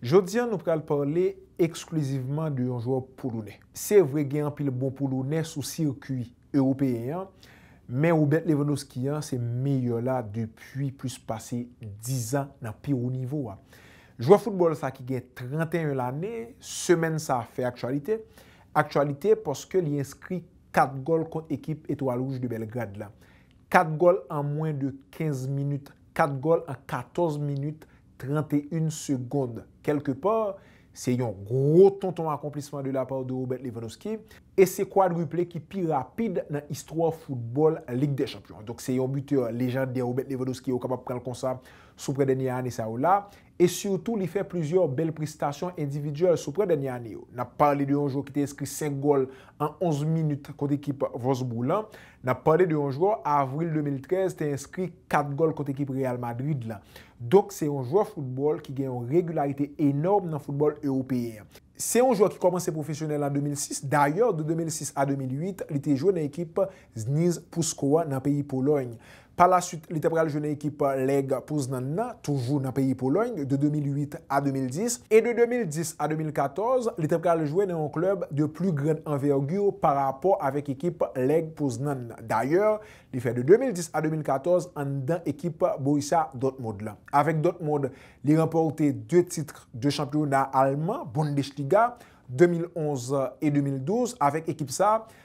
Jodi an nou pral pale eksklizivman de yon jwè polonè. Se vre gen anpil bon polonè sou sirkui ewopeyen an, men Robert Lewandowski an se meyè la depi plis pase 10 zan nan pi wo nivo a. Jwè foutbòl sa ki gen 31 lane, semèn sa fè aktyalite, aktyalite paske li enskri 4 gòl kont ekip Etwal Wouj de Bèlgrad la. 4 gòl an mwen de 15 minit, 4 gòl an 14 minit 31 secondes quelque part se yon gwo tonton akonplisman de la part de Robert Lewandowski e se kwadriple ki pi rapid nan istwa foutbòl Lig dè Chanpyon an. Donk se yon bitè lejandè Robert Lewandowski ou kapab pran l konsa sou prè dènyè ane sa yo la e sitou li fè plizyè bèl prestasyon endividyèl sou prè dènyè ane yo. N ap pale de yon jwè ki te enskri 5 gòl an 11 minit kont ekip Wolfsburg lan. N ap pale de yon jwè avril 2013 te enskri 4 gòl kont ekip Real Madrid la. Donk se yon jwè foutbòl ki gen yon regilarite enòm nan foutbòl ewopeyen an. Se yon jwè ki kòmanse pwofesyonèl an 2006, dayè de 2006 a 2008 li te jwe nan ekip Zniz Puszczo an nan peyi Polòy. Pa la suit, li te pral jwe nan ekip Leg Poznan nan, toujou nan peyi Polòy, de 2008 a 2010, e de 2010 a 2014, li te pral jwe nan yon klèb de pli grand envergure pa rapò avèk ekip Leg Poznan nan. Dayè, li fè de 2010 a 2014 anndan ekip Borussia Dortmund lan. Avèk Dortmund, li ranpòte 2 titr de chanpyona alman, Bundesliga, 2011 e 2012. Avèk ekip sa,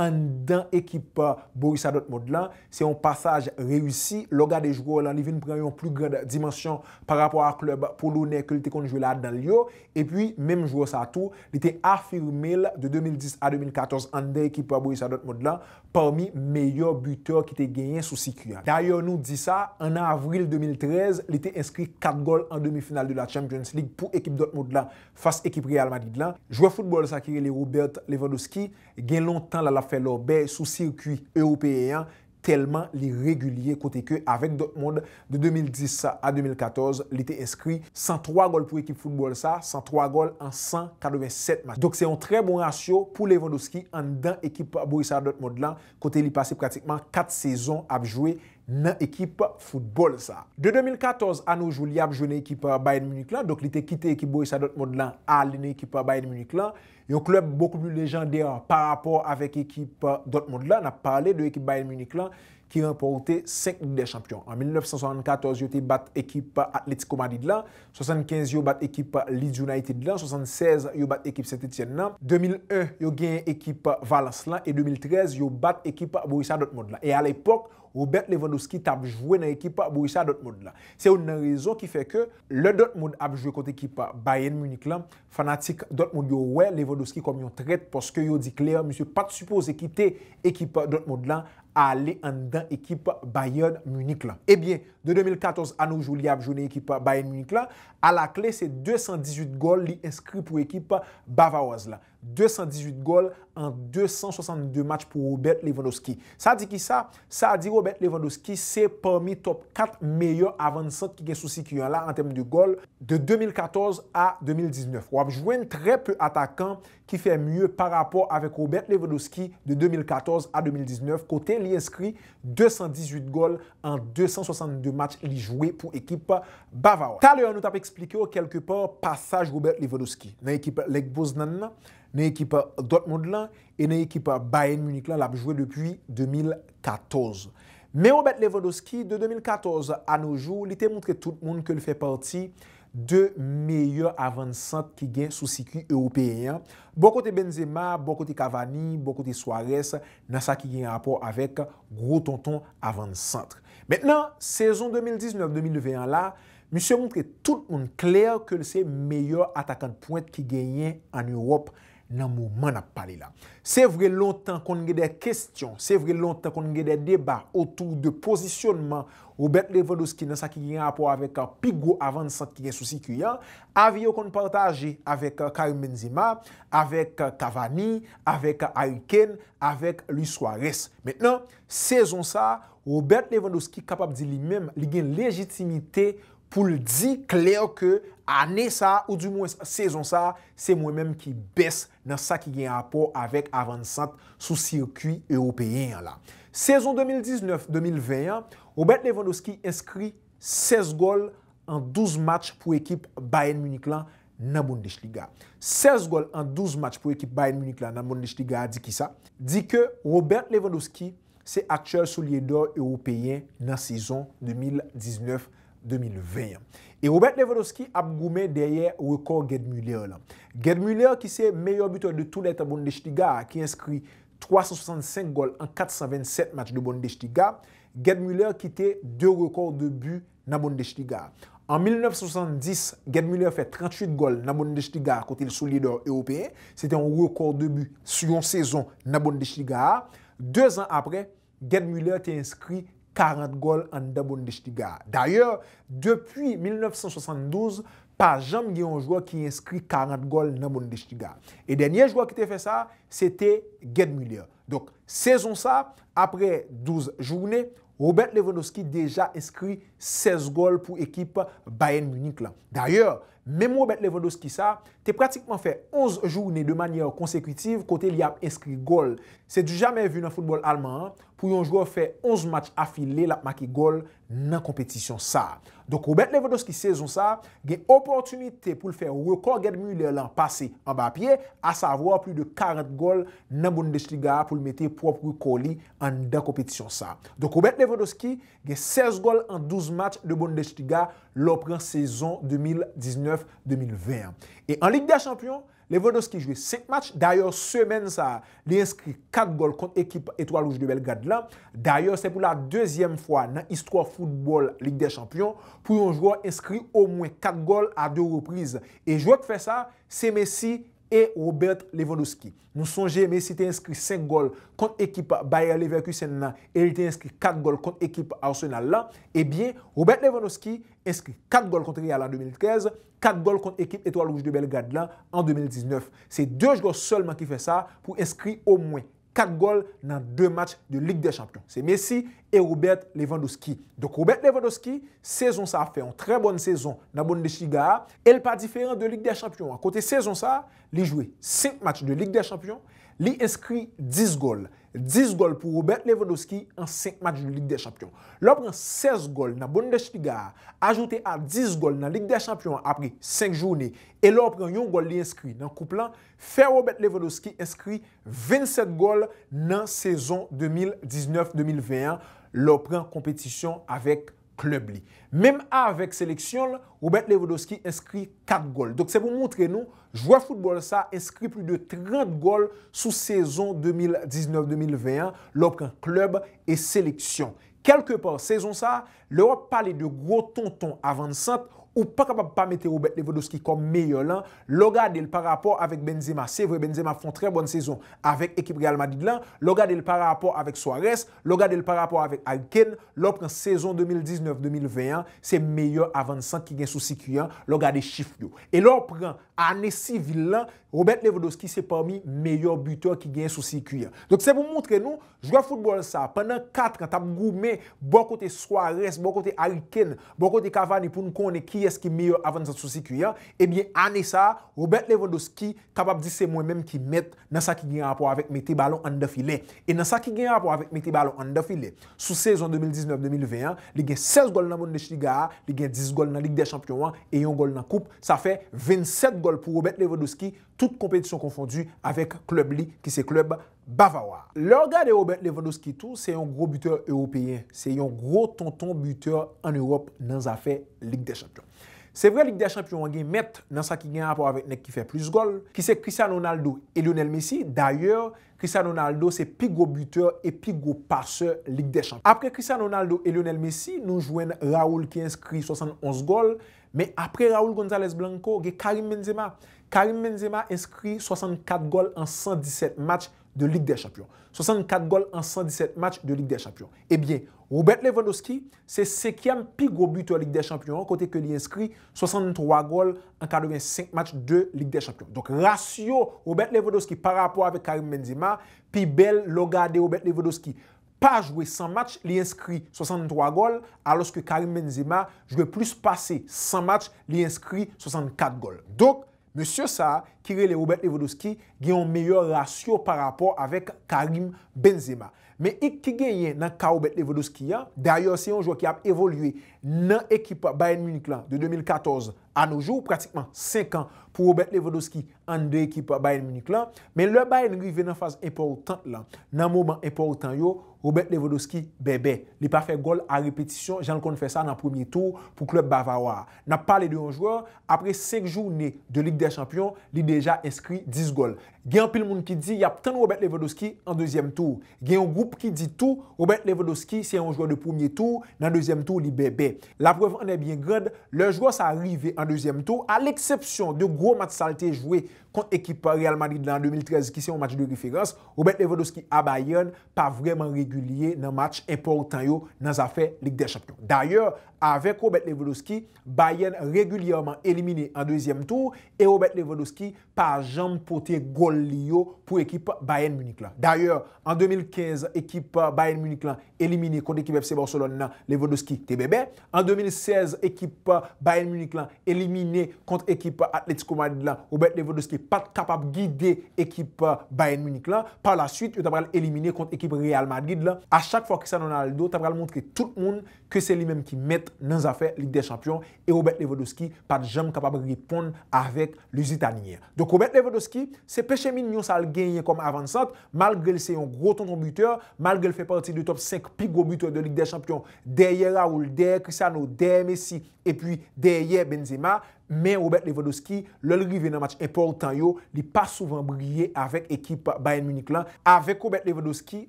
anndan ekip Borussia Dortmund lan, se yon pasaj reyisi, lè w gade jwè w lan li vin pran yon pli grand dimansyon pa rapò a klèb polonè ke l te konn jwe ladan l yo, epi menm jwè sa tou, li te afime l de 2010 a 2014 anndan ekip Borussia Dortmund lan pami meyè butè ki te genyen sou sikui a. Dayè nou di sa, an avril 2013 li te enskri 4 gòl an demi final de la Champions League pou ekip Dortmund lan fas ekip Real Madrid lan, jwè football sa ki rele Robert Lewandowski Gen lontan la l ap fè lòbè sou sikwi ewopeyen an tèlman li regilye kote ke avèk Dortmund de 2010 a 2014 li te enskri 103 gòl pou ekip foutbòl sa, 103 gòl an 187 match. Donk se yon trè bon rasyo pou Lewandowski anndan ekip Borussia Dortmund lan kote li pase pratikman 4 sezon ap jwe nan ekip foutbòl sa. De 2014 a no jou li ap jwe nan ekip Bayern Munich lan, donk li te kite ekip Borussia Dortmund lan ale nan ekip Bayern Munich lan. Yon club beaucoup plus légendaire par rapport avec ekip Dortmund la, nap pale de ekip Bayern Munich la ki ranpòte 5 Lig dè Chanpyon. An 1974 yo te bat ekip Atlético Madrid la, 75 yo bat ekip Leeds United la, 76 yo bat ekip Saint Etienne la, 2001 yo genyen ekip Valence la e 2013 yo bat ekip Borussia Dortmund la. E a lepòk Robert Lewandowski tap jwe nan ekip Borussia Dortmund la. Se youn nan rezon ki fè ke lè Dortmund ap jwe kont ekip Bayern Munich la, Fanatik Dortmund yo wè Lewandowski kòm yon trèt paske yo di klè misye pat sipoze kite ekip Dortmund lan ale anndan ekip Bayern Munich lan. Ebyen, de 2014 a no jou li ap jwe nan ekip Bayern Munich lan, alakle se 218 gòl li enskri pou ekip Bavaroise lan. 218 gòl an 262 match pou Robert Lewandowski. Sa di kisa? Sa di Robert Lewandowski se pami top 4 meyè avann sant ki gen sou sikui an la an tèm de gòl de 2014 a 2019. Wap jwenn trè pe atakan ki fè mye pa rapò avèk Robert Lewandowski de 2014 a 2019 kote li enskri 218 gòl an 262 match li jwe pou ekip Bavawa. Talè nou tap eksplike w kèlke pa pasaj Robert Lewandowski nan ekip Lech Poznan nan, nan ekip Dortmund lan E nan ekip Bayern Munich la, l ap jwe depi 2014. Men Robert Lewandowski, de 2014 a no jou, li te montre tout moun ke l fè pati de meyè avann sant ki gen sou sikwi ewopeyen an, bò kote Benzema, bò kote Cavani, bò kote Suarez nan sa ki gen rapò avèk gwo tonton avann sant. Men nan sezon 2019, 2020 an la, misye montre tout moun klè ke l se meyè atakan de pwent ki genyen an Ewòp nan moman nap pale la. Se vre lontan konn gen dè kestyon, se vre lontan konn gen dè deba otou de pozisyonman Robert Lewandowski nan sa ki gen rapò avèk pi gwo avan sant ki gen sou sikui an, avi yo konn pataje avèk Karim Benzema, avèk Cavani, avèk Harry Kane, avèk Luis Suarez. Mentnan, sezon sa, Robert Lewandowski kapab di li menm li gen lejitimite pou l di klè ke ane sa a, ou di mwens sezon sa a, se mwen menm ki bès nan sa ki gen rapò avèk avannsant sou sikui ewopeyen an la. Sezon 2019, 2020 an, Robert Lewandowski enskri 16 gòl an 12 match pou ekip Bayern Munich lan nan Bundesliga. 16 gòl an 12 match pou ekip Bayern Munich lan nan Bundesliga a di kisa? Di ke Robert Lewandowski Se aktyèl soulye dò ewopeyen nan sezon 2019, 2020 an. E Robert Lewandowski ap goumen dèyè rekò Gerd Müller lan. Gerd Müller ki se meyè bitè de tou lè tan Bundesliga a ki enskri 365 gòl an 427 match de Bundesliga, Gerd Müller kite 2 rekò de but nan Bundesliga a. An 1970, Gerd Müller fè 38 gòl nan Bundesliga a kote l sou lidè ewopeyen. Se te yon rekò de bi sou yon sezon nan Bundesliga a. Dezan apre, Gerd Müller te enskri 40 gòl anndan Bundesliga a. Dayè, depi 1972, pa janm gen yon jwè ki enskri 40 gòl nan Bundesliga a. E dènye jwè ki te fè sa, se te Gerd Müller. Donk, sezon sa, aprè 12 joune, Robert Lewandowski deja enskri 16 gòl pou ekip Bayern Munich la. Dayè, menm Robert Lewandowski sa, te pratikman fè 11 joune de manyè konsekitiv kote li ap enskri gòl. Se du jamais vu nan foutbòl alman an, pou yon jwè fè 11 match afile l ap make gòl nan konpetisyon sa. Donk Robert Lewandowski sezon sa gen opòtinite pou l fè rekò Gerd Müller lan pase anba pye, asavwa pli de 40 gòl nan Bundesliga a pou l mete pwòp rekò li anndan konpetisyon sa. Donk Robert Lewandowski gen 16 gòl an 12 match de Bundesliga lè w pran sezon 2019, 2020 an. E an Lig dè chanpyon, Lewandowski jwe 5 match, dayè semèn sa a li enskri 4 gòl kont ekip Etwal Wouj de Bèlgrad la. Dayè se pou la dezyèm fwa nan istwa foutbòl Lig dè Chanpyon pou yon jwè enskri omwen 4 gòl a 2 repriz. E jwè k fè sa, se Messi e Robert Lewandowski. Nou sonje Messi te enskri 5 gòl kont ekip Bayer Leverkusen la e li te enskri 4 gòl kont ekip Arsenal la. Ebyen Robert Lewandowski enskri 4 gòl kont Real an 2013, 4 gòl kont ekip Etoile Rouge de Belgrade lan an 2019. Se 2 jwè sèlman ki fè sa pou enskri omwen 4 gòl nan 2 match de Lig dè Chanpyon. Se Messi e Robert Lewandowski. Donk Robert Lewandowski, sezon sa a fè yon trè bòn sezon nan Bundesliga a, e l pa diferan de Lig dè Chanpyon an kote sezon sa a li jwe 5 match de Lig dè Chanpyon, li enskri 10 gòl. 10 gòl pou Robert Lewandowski an 5 match de Lig dè Chanpyon. Lè w pran 16 gòl nan Bundesliga a, ajoute a 10 gòl nan Lig dè Chanpyon an apre 5 joune, e lè w pran yon gòl li enskri nan koup lan, fè Robert Lewandowski enskri 27 gòl nan sezon 2019, 2020 an lè w pran konpetisyon avèk klèb li. Menm avèk seleksyon l, Robert Lewandowski enskri 4 gòl. Donk se pou montre nou, jwè foutbòl sa enskri plis de 30 gòl sou sezon 2019, 2020 an, lè w pran klèb e seleksyon. Kèlke pa, sezon sa, lè w ap pale de gwo tonton avansant, ou pa kapab pa mete Robert Lewandowski kòm meyè lan, lè w gade l pa rapò avèk Benzema, se vre Benzema ap fè yon trè bòn sezon avèk ekip Real Madrid lan, lè w gade l pa rapò avèk Suarez, Lè w gade l parapò avèk Harry Kane, lè w pran sezon 2019, 2020 an, se meyè avansan ki gen sou sikui an, lè w gade chif yo. E lè w pran ane sivil lan, Robert Lewandowski se pami meyè butè ki genyen sou sikui an. Donk se pou montre nou, jwè foutbòl sa, pandan 4 an, t ap goumen bò kote Suarez, bò kote Harry Kane, bò kote Cavani pou n konnen kiyès ki meyè avansan sou sikui an, ebyen ane sa, Robert Lewandowski kapab di se mwen menm ki mèt nan sa ki gen rapò avèk mete balon anndan filè e nan sa ki gen rapò avèk mete balon anndan filè, sou sezon 2019, 2020 an, li gen 16 gòl nan Bundesliga a, li gen 10 gòl nan Lig dè Chanpyon an e yon gòl nan koup, sa fè 27 gòl pou Robert Lewandowski, tout konpetisyon konfondi, avèk klèb li ki se klèb Bavawa. Lè w gade Robert Lewandowski tou, se yon gwo bitè ewopeyen, se yon gwo tonton bitè an Ewòp nan zafè Lig dè Chanpyon. Se vre Lig dè Chanpyon an gen mèt nan sa ki gen rapò avèk nèg ki fè plis gòl, ki se Cristiano Ronaldo e Lionel Messi, dayè Cristiano Ronaldo se pi gwo bitè e pi gwo pasè Lig dè Chanpyon. Apre Cristiano Ronaldo e Lionel Messi, nou jwenn Raul ki enskri 71 gòl, men apre Raul Gonzalez Blanco, gen Karim Benzema. Karim Benzema enskri 64 gòl an 117 match de Lig dè Chanpyon. 64 gòl an 117 match de Lig dè Chanpyon. Ebyen, Robert Lewandowski, Se senkyèm pi gwo bitè Lig dè Chanpyon an kote ke li enskri 63 gòl an 85 match de Lig dè Chanpyon. Donk rasyo Robert Lewandowski pa rapò avèk Karim Benzema pi bèl lè w gade Robert Lewandowski pa jwe 100 match li enskri 63 gòl alòske Karim Benzema jwe plis pase 100 match li enskri 64 gòl. Donk. Mesye sa a, ki rele Robert Lewandowski, gen yon meyè rasyo pa rapò avèk Karim Benzema. Men ik ki genyen nan ka Robert Lewandowski an, dayè se yon jwè ki ap evolye nan ekip Bayern Munich lan de 2014 a no jou, pratikman 5 an pou Robert Lewandowski anndan ekip Bayern Munich lan. Men lè Bayern rive nan faz enpòtant lan, nan moman enpòtan yo, Robert Lewandowski bèbè. Li pa fè gòl a repetisyon jan l konn fè sa nan premye tou pou klèb bavawa a. N ap pale de yon jwè Apre 5 joune de Lig dè Chanpyon, li deja enskri 10 gòl. Gen anpil moun ki di y ap tann Robert Lewandowski an dezyèm tou. Gen yon gwoup ki di tou Robert Lewandowski se yon jwè de premye tou, nan dezyèm tou li bèbè. Laprèv an è byen grand, lè jwè sa rive an dezyèm tou, a leksepsyon de gwo match sa l te jwe kont ekip Real Madrid la an 2013 ki se yon match de referans, Robert Lewandowski a Bayern pa vrèman regilye nan match enpòtan yo nan zafè Lig dè Chanpyon. Dayè, avèk Robert Lewandowski, Bayern regilyèman elimine an dezyèm tou e Robert Lewandowski pa janm pote gòl li yo pou ekip Bayern Munich lan. Dayè, an 2015 ekip Bayern Munich lan elimine kont ekip FC Barcelone nan, Lewandowski te bèbè. An 2016 ekip Bayern Munich lan elimine kont ekip Atletico Madrid lan, Robert Lewandowski pat kapab gide ekip Bayern Munich lan. Par la suite, yo ta pral elimine kont ekip Real Madrid lan. A chak fwa Cristiano Ronaldo ta pral montre tout moun ke se li menm ki mèt nan zafè Lig dè Chanpyon e Robert Lewandowski pa t janm kapab reponn avèk Lusitanien an. Donk Robert Lewandowski, se peche mignon sa l genyen kòm avannsant, malgre l se yon gwo tonton bitè, malgre l fè pati de top 5 pi gwo bitè de Lig dè Chanpyon dèyè Raul, dèyè Cristiano, dèyè Messi epi dèyè Benzema, men Robert Lewandowski, lè l rive nan match enpòtan yo, li pa souvan briye avèk ekip Bayern Munich lan. Avèk Robert Lewandowski,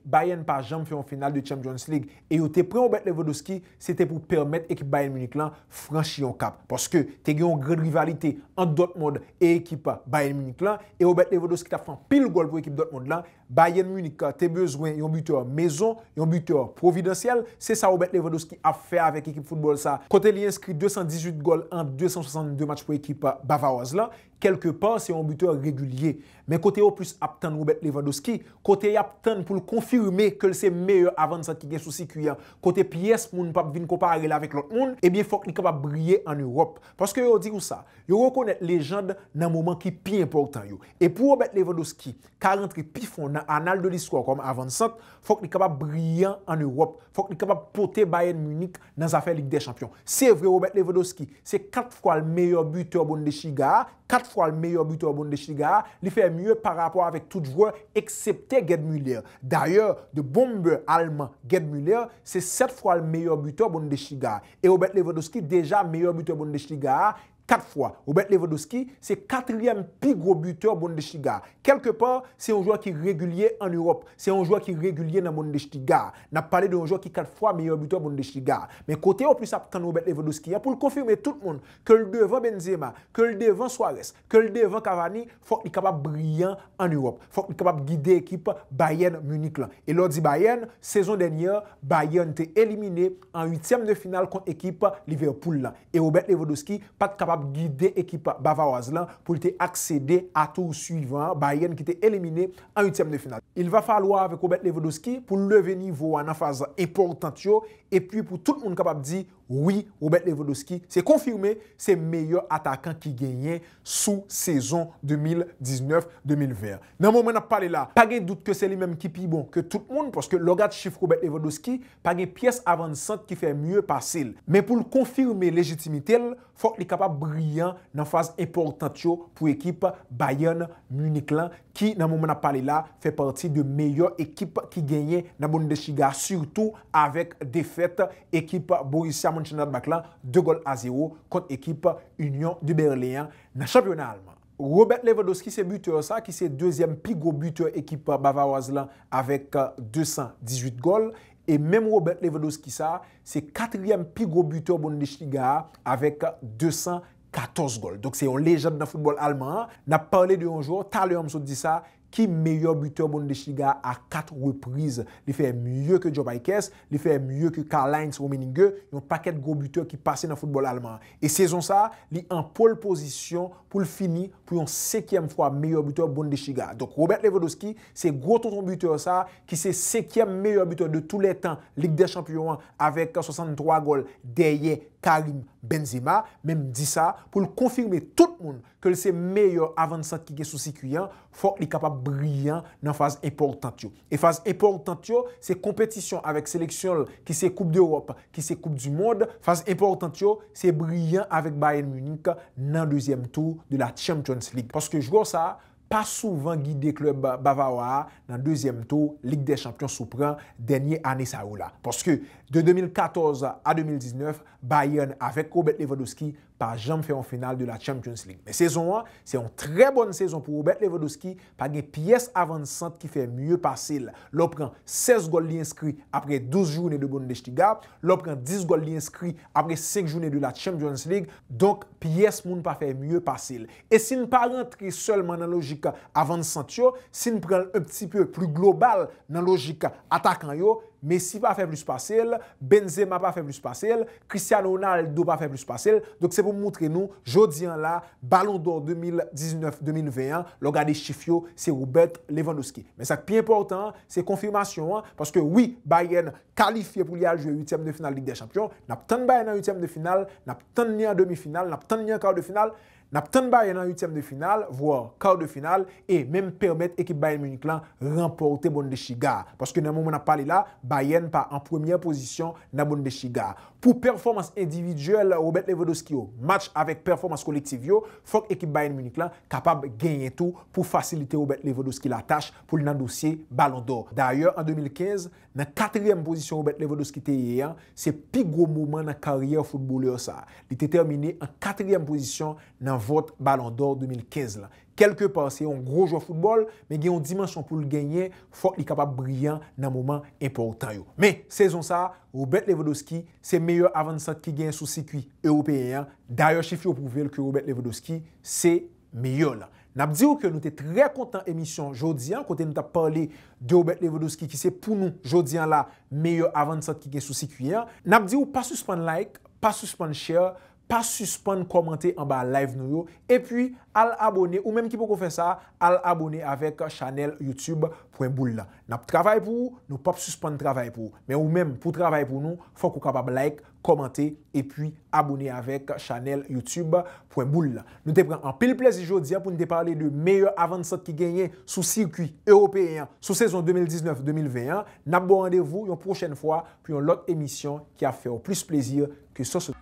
Bayern pa janm fè yon final de Champions League e yo te pran Robert Lewandowski se te pou pèmèt ekip Bayern Munich lan franchi yon kap paske te gen yon grann rivalite ant Dortmund e ekip Bayern Munich lan e Robert Lewandowski t ap fè anpil gòl pou ekip Dortmund lan. Bayern Munich te bezwen yon bitè mezon, yon bitè pwovidansyèl, se sa Robert Lewandowski ap fè avèk ekip foutbòl sa kote li enskri 218 gòl an 262 match pou ekip bavaroz lan. Kèlke pa, se yon bitè regilye. Men kote yo plis ap tann Robert Lewandowski, kote y ap tann pou l konfime ke l se meyè avansant ki gen sou sikui an, kote pyès moun pap vin konpare l avèk lòt moun, ebyen fòk li kapab briye an Ewòp. Paske yo di ou sa, yo rekonèt lejand nan moman ki pi enpòtan yo. E pou Robert Lewandowski ka rantre pi fon nan anal de listwa kòm avansant, fòk li kapab briyan an Ewòp, fòk li kapab pote Bayern Munich nan zafè Lig dè Chanpyon. Se vre Robert Lewandowski se 4 fwa l meyè bitè Bundesliga a, 4 fwa l meyè bitè Bundesliga a, li fè mye pa rapò avèk tout jwè eksepte Gerd Müller. Dayè, The Bomber alman Gerd Müller se 7 fwa l meyè bitè Bundesliga a. E Robert Lewandowski deja meyè bitè Bundesliga a 4 fwa. Robert Lewandowski se katriyèm pi gwo bitè Bundesliga a. Kèlke pa, se yon jwè ki regilye an Ewòp. Se yon jwè ki regilye nan Bundesliga a. N ap pale de yon jwè ki 4 fwa meyè bitè Bundesliga a. Men kote yo plis ap tann Robert Lewandowski an pou l konfime tout moun, ke l devan Benzema, ke l devan Suarez, ke l devan Cavani, fòk li kapab briyan an Ewòp. Fòk li kapab gide ekip Bayern Munich lan. E lè w di Bayern, sezon dènyè, Bayern te elimine an uityèm de final kont ekip Liverpool lan. e Robert Lewandowski pa t kapab gide ekip Bavawaz lan pou l te aksede a tour swivan an, Bayern ki te elimine an uityèm de final. Il va falloir avec Robert Lewandowski pou l leve nivo a nan faz enpòtant yo e pwi pou tout moun kapab di wi Robert Lewandowski se konfime se meyè atakan ki genyen sou sezon 2019, 2020 an. Nan moman n ap pale la, pa gen dout ke se li menm ki pi bon ke tout moun, paske lè w gad chif Robert Lewandowski, pa gen pyès avan sant ki fè mye pase l. Men pou l konfime lejitimite l, fòk li kapab briyan nan faz enpòtant yo pou ekip Bayern Munich lan, ki nan moman n ap pale la, fè pati de meyè ekip ki genyen nan Bundesliga, sitou avèk defèt ekip Borussia Mönchengladbach la 2 gòl a 0 kont ekip Union de Berlin an nan chanpyona alman. Robert Lewandowski se butè sa ki se dezyèm pi gwo butè ekip Bavaroise lan avèk 218 gòl e menm Robert Lewandowski sa se katriyèm pi gwo butè Bundesliga a avèk 214 gòl. Donk se yon lejand nan foutbòl alman an. Nap pale de yon jwè, talè an m sot di sa, ki meyè butè Bundesliga a 4 repriz. Li fè mye ke Job Ikes, li fè mye ke Karlheinz Rummenigge, yon pakèt gwo butè ki pase nan foutbòl alman an. E sezon sa, li an pole position pou l fini pou yon senkyèm fwa meyè butè Bundesliga a. Donk Robert Lewandowski se gwo tonton butè sa ki se senkyèm meyè butè de tou lè tan Lig dè Chanpyon an avèk 63 gòl dèyè Karim Benzema. Men m di sa pou l konfime tout moun ke l se meyè avansant ki gen sou sikui an, fòk li kapab briyan nan faz enpòtant yo. E faz enpòtant yo, se konpetisyon avèk seleksyon l ki se koup dEròp, ki se koup di mond, faz enpòtant yo, se briyan avèk Bayern Munich nan dezyèm tou de la Champions League. Paske jwè sa a pa souvan gide klèb bavawa a nan dezyèm tou Lig dè Chanpyon sou pran dènye ane sa yo la. Paske de 2014 a 2019, Bayern avèk Robert Lewandowski pa janm fè yon final de la Champions League. Men sezon an, se yon trè bòn sezon pou Robert Lewandowski, pa gen pyès avannsant ki fè mye pase l. Lè w pran 16 gòl li enskri aprè 12 joune de Bundesliga, lè w pran 10 gòl li enskri aprè 5 joune de la Champions League, donk pyès moun pa fè mye pase l. E si n pa rantre sèlman nan lojik avannsant yo, si n pran l un pti peu plu global nan lojik atakan yo, Messi pa fè plis pase l, Benzema pa fè plis pase l, Cristiano Ronaldo pa fè plis pase l, donk se pou m moutre nou jodi an la balon dò 2019, 2020 an, lè w gade chif yo, se Robert Lewandowski. Men sa k pi enpòtan an, se konfimasyon an, paske wi, Bayern kalifye pou li al jwe uityèm de final Lig dè chanpyon, n ap tann Bayern an uityèm de final, n ap tann li an demi final, n ap tann li an kar de final, N ap tann Bayern an uityèm de final, voir quart de finale, e menm pèmèt ekip Bayern Munich lan ranpòte Bundesliga a. Paske nan moman n ap pale la, Bayern pa an premyè pozisyon nan Bundesliga a. Pou pèfòmans endividyèl Robert Lewandowski yo match avèk pèfòmans kolektiv yo, fòk ekip Bayern Munich lan kapab genyen tou pou fasilite Robert Lewandowski latach pou l nan dosye Ballon d'Or. Dayè an 2015, Nan katriyèm pozisyon Robert Lewandowski te ye an, se pi gwo moman nan karyè foutbolè sa. Li te tèmine an katriyèm pozisyon nan vòt Ballon d'Or 2015 la. Kèlke pa, se yon gwo jwè foutbòl, men gen yon dimansyon pou l genyen, fòk li kapab briyan nan moman enpòtan yo. Men, sezon sa, Robert Lewandowski, se meyè avannsant ki genyen sou sikui ewopeyen an. Dayè chif yo pwouve l ke Robert Lewandowski se meyè la. Nap diw ke nou te trè kontan emisyon jodi an kote nou tap pale de Robert Lewandowski ki se pou nou jodi an la meyè avan sant ki gen sou sikwi an. Nap diw pa sispann like, pa sispann share, pa sispann kòmante anba live nou yo epi al abone ou menm ki poko fè sa al abone avèk chanèl YouTube pwen boul la. Nap travay pou ou, nou pap sispann travay pou ou. Men ou menm pou travay pou nou fòk ou kapab like, kòmante epi abone avèk chanèl youtube pwen boul la. Nou te pran anpil plezi jodi a pou n te pale de meyè avannsant ki genyen sou sikwi ewopeyen an sou sezon 2019, 2020 an. N ap ba w randevou yon pwochèn fwa pou yon lòt emisyon ki ap fè w plis plezi ke sòs la.